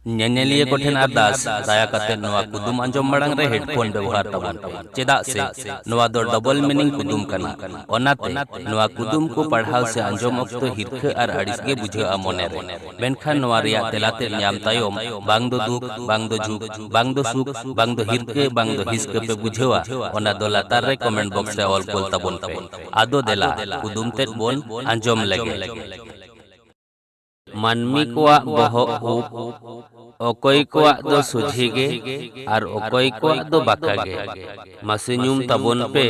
ᱧᱮᱧᱮᱞᱤᱭᱟᱹ ᱠᱚ ᱴᱷᱮᱱ ᱟᱨᱫᱟᱥ ᱫᱟᱭᱟ ᱠᱟᱛᱮ ᱱᱚᱣᱟ ᱠᱩᱫᱩᱢ ᱟᱸᱡᱚᱢ ᱢᱟᱲᱟᱝ ᱨᱮ ᱦᱮᱰᱯᱷᱳᱱ ᱵᱮᱣᱦᱟᱨ ᱛᱟᱵᱚᱱ ᱯᱮ ᱪᱮᱫᱟᱜ ᱥᱮ ᱱᱚᱣᱟ ᱫᱚ ᱰᱚᱵᱚᱞ ᱢᱤᱱᱤᱝ ᱠᱩᱫᱩᱢ ᱠᱟᱱᱟ ᱚᱱᱟᱛᱮ ᱱᱚᱣᱟ ᱠᱩᱫᱩᱢ ᱠᱚ ᱯᱟᱲᱦᱟᱣ ᱥᱮ ᱟᱸᱡᱚᱢ ᱚᱠᱛᱚ ᱦᱤᱨᱠᱷᱟᱹ ᱟᱨ ᱟᱹᱲᱤᱥ ᱜᱮ ᱵᱩᱡᱷᱟᱹᱜᱼᱟ ᱢᱚᱱᱮ ᱨᱮ ᱢᱮᱱᱠᱷᱟᱱ ᱱᱚᱣᱟ ᱨᱮᱭᱟᱜ ᱛᱮᱞᱟ ᱛᱮᱫ ᱧᱟᱢ ᱛᱟᱭᱚᱢ ᱵᱟᱝ ᱫᱚ ᱫᱩᱠ ᱵᱟᱝ ᱫᱚ ᱡᱷᱩᱠ ᱵᱟᱝ ᱫᱚ ᱥᱩᱠ ᱵᱟᱝ ᱫᱚ ᱦᱤᱨᱠᱟᱹ ᱵᱟᱝ ᱫᱚ ᱦᱤᱥᱠᱟᱹ ᱯᱮ ᱵᱩᱡᱷᱟᱹᱣᱟ ᱚᱱᱟ ᱫᱚ ᱞᱟᱛᱟᱨ ᱨᱮ ᱠᱚᱢᱮᱱᱴ ᱵᱚᱠᱥ ᱨᱮ ᱚᱞ ᱠᱳᱞ ᱛᱟᱵᱚᱱ ᱯᱮ ᱟᱫᱚ ᱫᱮᱞᱟ ᱠᱩᱫᱩᱢ ᱛᱮᱫ ᱵᱚᱱ ᱟᱸᱡᱚᱢ ᱞᱮᱜᱮ ᱢᱟᱹᱱᱢᱤ ᱠᱚᱣᱟᱜ ᱵᱚᱦᱚᱜ ᱩᱵ ᱚᱠᱚᱭ ᱠᱚᱣᱟᱜ ᱫᱚ ᱥᱚᱡᱷᱮ ᱜᱮ ᱟᱨ ᱚᱠᱚᱭ ᱠᱚᱣᱟᱜ ᱫᱚ ᱵᱟᱠᱟ ᱜᱮ ᱢᱟᱥᱮ ᱧᱩᱢ ᱛᱟᱵᱚᱱ ᱯᱮ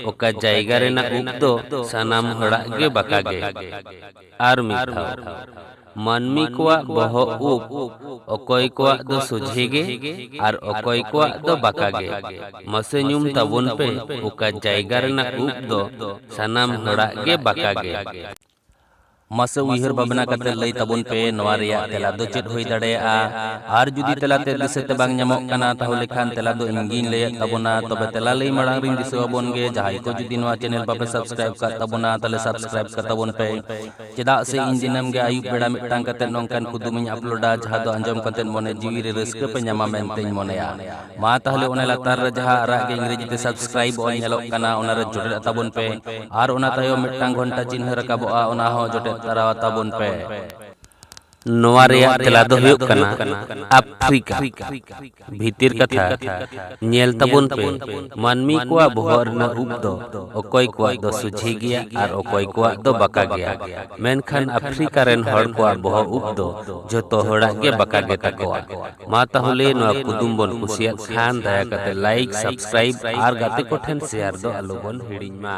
ᱚᱠᱟ ᱡᱟᱭᱜᱟ ᱨᱮᱱᱟᱜ ᱩᱵ ᱫᱚ ᱥᱟᱱᱟᱢ ᱦᱚᱲᱟᱜ ᱜᱮ ᱵᱟᱠᱟ ᱜᱮ ᱟᱨ ᱢᱤᱫ ᱫᱷᱟᱣ ᱢᱟᱹᱱᱢᱤ ᱠᱚᱣᱟᱜ ᱵᱚᱦᱚᱜ ᱩᱵ ᱚᱠᱚᱭ ᱠᱚᱣᱟᱜ ᱫᱚ ᱥᱚᱡᱷᱮ ᱜᱮ ᱟᱨ ᱚᱠᱚᱭ ᱠᱚᱣᱟᱜ ᱫᱚ ᱵᱟᱠᱟ ᱜᱮ ᱢᱟᱥᱮ ᱧᱩᱢ ᱛᱟᱵᱚᱱ ᱯᱮ ᱚᱠᱟ ᱡᱟᱭᱜᱟ ᱨᱮᱱᱟᱜ ᱩᱵ ᱫᱚ ᱥᱟᱱᱟᱢ ᱦᱚᱲᱟᱜ ᱜᱮ ᱵᱟᱠᱟ ᱜᱮ ᱢᱟᱥᱮ ᱩᱭᱦᱟᱹᱨ ᱵᱷᱟᱵᱽᱱᱟ ᱠᱟᱛᱮ ᱞᱟᱹᱭ ᱛᱟᱵᱚᱱ ᱯᱮ ᱱᱚᱣᱟ ᱨᱮᱭᱟᱜ ᱛᱮᱞᱟ ᱫᱚ ᱪᱮᱫ ᱦᱩᱭ ᱫᱟᱲᱮᱭᱟᱜᱼᱟ ᱟᱨ ᱡᱩᱫᱤ ᱛᱮᱞᱟ ᱛᱮ ᱫᱤᱥᱟᱹ ᱛᱮ ᱵᱟᱝ ᱧᱟᱢᱚᱜ ᱠᱟᱱᱟ ᱛᱟᱦᱚᱞᱮ ᱠᱷᱟᱱ ᱛᱮᱞᱟ ᱫᱚ ᱤᱧ ᱜᱤᱧ ᱞᱟᱹᱭᱮᱫ ᱛᱟᱵᱚᱱᱟ ᱛᱚᱵᱮ ᱛᱮᱞᱟ ᱞᱟᱹᱭ ᱢᱟᱲᱟᱝ ᱨᱤᱧ ᱫᱤᱥᱟᱹ ᱟᱵᱚᱱ ᱜᱮ ᱡᱟᱦᱟᱸᱭ ᱠᱚ ᱡᱩᱫᱤ ᱱᱚᱣᱟ ᱪᱮᱱᱮᱞ ᱵᱟᱯᱮ ᱥᱟᱵᱥᱠᱨᱟᱭᱤᱵ ᱠᱟᱜ ᱛᱟᱵᱚᱱᱟ ᱛᱟᱦᱚᱞᱮ ᱥᱟᱵᱥᱠᱨᱟᱭᱤᱵ ᱠᱟᱜ ᱛᱟᱵᱚᱱ ᱯᱮ ᱪᱮᱫᱟᱜ ᱥᱮ ᱤᱧ ᱫᱤᱱᱟᱹᱢ ᱜᱮ ᱟᱹᱭᱩᱵ ᱵᱮᱲᱟ ᱢᱤᱫᱴᱟᱝ ᱠᱟᱛᱮ ᱱᱚᱝᱠᱟᱱ ᱠᱩᱫᱩᱢᱤᱧ ᱟᱯᱞᱳᱰᱟ ᱡᱟᱦᱟᱸ ᱫᱚ ᱟᱸᱡᱚᱢ ᱠᱟᱛᱮ ᱢᱚᱱᱮ ᱡᱤᱣᱤ ᱨᱮ ᱨᱟᱹᱥᱠᱟᱹ ᱯᱮ ᱧᱟᱢᱟ ᱢᱮᱱᱛᱮᱧ ᱢᱚᱱᱮᱭᱟ ᱢᱟ ᱛᱟᱦᱚᱞᱮ ᱚᱱᱟ ᱞᱟᱛᱟᱨ ᱨᱮ ᱡᱟᱦᱟᱸ ᱟᱨᱟᱜ ᱜᱮ ᱤᱝᱨᱮᱡᱤ ᱛᱮ ᱥᱟᱵᱥᱠᱨᱟᱭᱤᱵ ᱚᱞ ᱧᱮᱞᱚᱜ ᱠᱟᱱᱟ ᱚᱱᱟ ᱨᱮ ᱡᱚᱴᱮᱫ ᱛᱟᱵᱚᱱ ᱯᱮ ᱟᱨ ᱚᱱᱟ ᱛᱟᱭᱚᱢ ᱢᱤᱫᱴᱟᱝ ᱜᱷᱚᱱᱴᱟ ᱪᱤᱱᱦᱟᱹ ᱨᱟᱠᱟᱵᱚᱜᱼᱟ ᱚᱱᱟ ᱦᱚᱸ ᱡᱚᱴᱮᱫ ᱛᱟᱨᱟ ᱛᱟᱵᱚᱱ ᱯᱮ ᱱᱚᱣᱟ ᱨᱮᱭᱟᱜ ᱛᱮᱞᱟ ᱫᱚ ᱦᱩᱭᱩᱜ ᱠᱟᱱᱟ ᱟᱯᱷᱨᱤᱠᱟ ᱵᱷᱤᱛᱤᱨ ᱠᱟᱛᱷᱟ ᱧᱮᱞ ᱛᱟᱵᱚᱱ ᱯᱮ ᱢᱟᱹᱱᱢᱤ ᱠᱚᱣᱟᱜ ᱵᱚᱦᱚᱜ ᱨᱮᱱᱟᱜ ᱩᱵ ᱫᱚ ᱚᱠᱚᱭ ᱠᱚᱣᱟᱜ ᱫᱚ ᱥᱩᱡᱷᱤ ᱜᱮᱭᱟ ᱟᱨ ᱚᱠᱚᱭ ᱠᱚᱣᱟᱜ ᱫᱚ ᱵᱟᱠᱟ ᱜᱮᱭᱟ ᱢᱮᱱᱠᱷᱟᱱ ᱟᱯᱷᱨᱤᱠᱟ ᱨᱮᱱ ᱦᱚᱲ ᱠᱚᱣᱟᱜ ᱵᱚᱦᱚᱜ ᱩᱵ ᱫᱚ ᱡᱚᱛᱚ ᱦᱚᱲᱟᱜ ᱜᱮ ᱵᱟᱠᱟ ᱜᱮ ᱛᱟᱠᱚᱣᱟ ᱢᱟ ᱛᱟᱦᱚᱞᱮ ᱱᱚᱣᱟ ᱠᱩᱫᱩᱢ ᱵᱚᱱ ᱠᱩᱥᱤᱭᱟᱜ ᱠᱷᱟᱱ ᱫᱟᱭᱟ ᱠᱟᱛᱮ ᱞᱟᱭᱤᱠ ᱥᱟᱵᱥᱠᱨᱟᱭᱤᱵ ᱟᱨ ᱜᱟᱛᱮ ᱠᱚᱴᱷᱮᱱ ᱥᱮᱭᱟᱨ ᱫᱚ ᱟᱞᱚ ᱵᱚᱱ ᱦᱤᱲᱤᱧ ᱢᱟ